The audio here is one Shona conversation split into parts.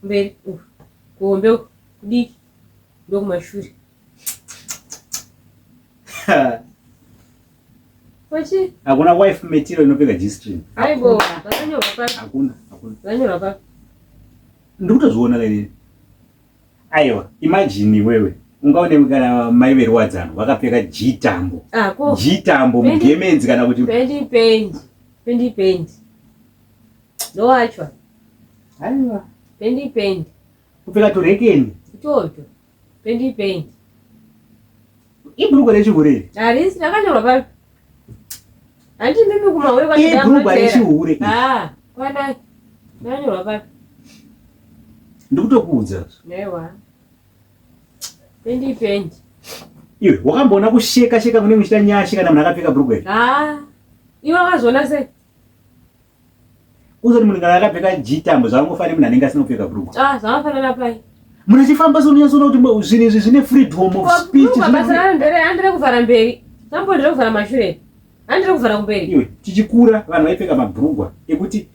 kumberi uku kuhombe uku kudiki ndokumashure Wachi? hakuna wife metiro inopfeka g-string Aibo, vakanyorwa papi? hakuna hakuna Vakanyorwa papi? ndikutozviona kainini aiwa imajini iwewe ungaonewe kana mai veruwadzano vakapfeka g-tambo Ah, ko. g-tambo Pendi- mugemenzi kana kuti Pendi, pendi. Pendi, pendi. Ndoachwa. Aiwa. Pendi pendi. Kupfeka turekeni. Itocho. Pendi pendi. Ibhuruko rechihure. Harisi rakanyorwa pa. Hanti mimi kumahure kwa chidama. Ibhuruko rechihure. Ah, kwana. Rakanyorwa pa. Ndikutokuudza. Newa. Pendi pendi. Iwe wakamboona kusheka sheka kune muchita nyashe kana munhu akapfeka bhurugwa iri? Ah. Iwe wakazoona sei? Kuzoti munhu kana akapfeka jitambo zvakangofanira munhu anenge asina kupfeka brugwa. Ah, zvakangofanira pai? Munhu achifamba so unonyatsoona kuti zvinhu izvi zvine freedom of speech. Brugwa basa raro ndere andire kuvhara mberi. Tambo ndire kuvhara mashure. Andire kuvhara kumberi. Iwe tichikura vanhu vaipfeka mabrugwa ekuti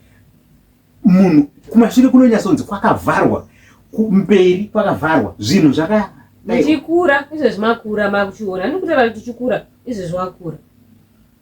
munhu kumashure kunonyatsonzi kwakavharwa kumberi kwakavharwa zvinhu zvaka muchikura izvezvi makura makuchiona ndikutaura kuti tichikura izvezvi wakura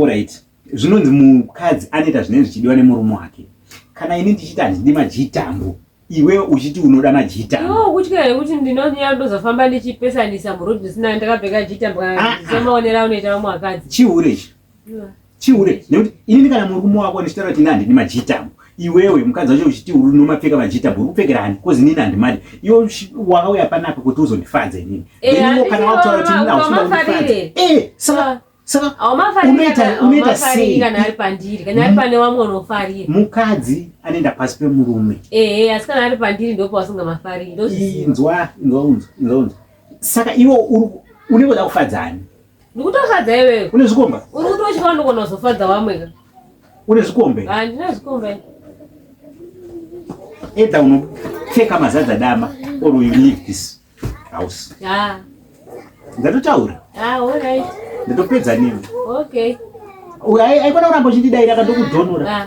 Alright. Zvinonzi mukadzi anoita zvinenge zvichidiwa nemurume wake. Kana ini ndichiti handidi majitambo, iwe uchiti unoda majitambo. No, kutya here kuti ndinonyara ndozofamba ndichipesanisa muroad zvisina ndakapfeka jitambo kana ah, ah. semaonera aunoita vamwe vakadzi. Chihure ichi. Chihure. Nekuti ini kana murume wako ndichitaura kuti ini handidi majitambo. iwewe mukadzi wacho uchiti uri nomapfeka vachita bhuru kupfekera ani kozi nini handimadi iwe wakauya panapa kuti uzondifadza inini eh, theniwo kana wataura kuti nini auchidaundifadze eh, saka unoita sei mukadzi anoenda pasi pemurume inzwa inzwa unzwa inzwa unzwa saka iwe unenge uda kufadzani Ndikutofadza iwewe. Une zvikomba? Uri kuti uchifana ndikona kuzofadza vamwe ka? Une zvikombe? Ah, ndine zvikombe. Eda unopfeka mazadza dama or you leave this house. Ah. Ndatotaura. Ah, all right. Ndotopedza nini? Okay. Uya aikona kuramba uchindidaira kandokudhonora. Ah.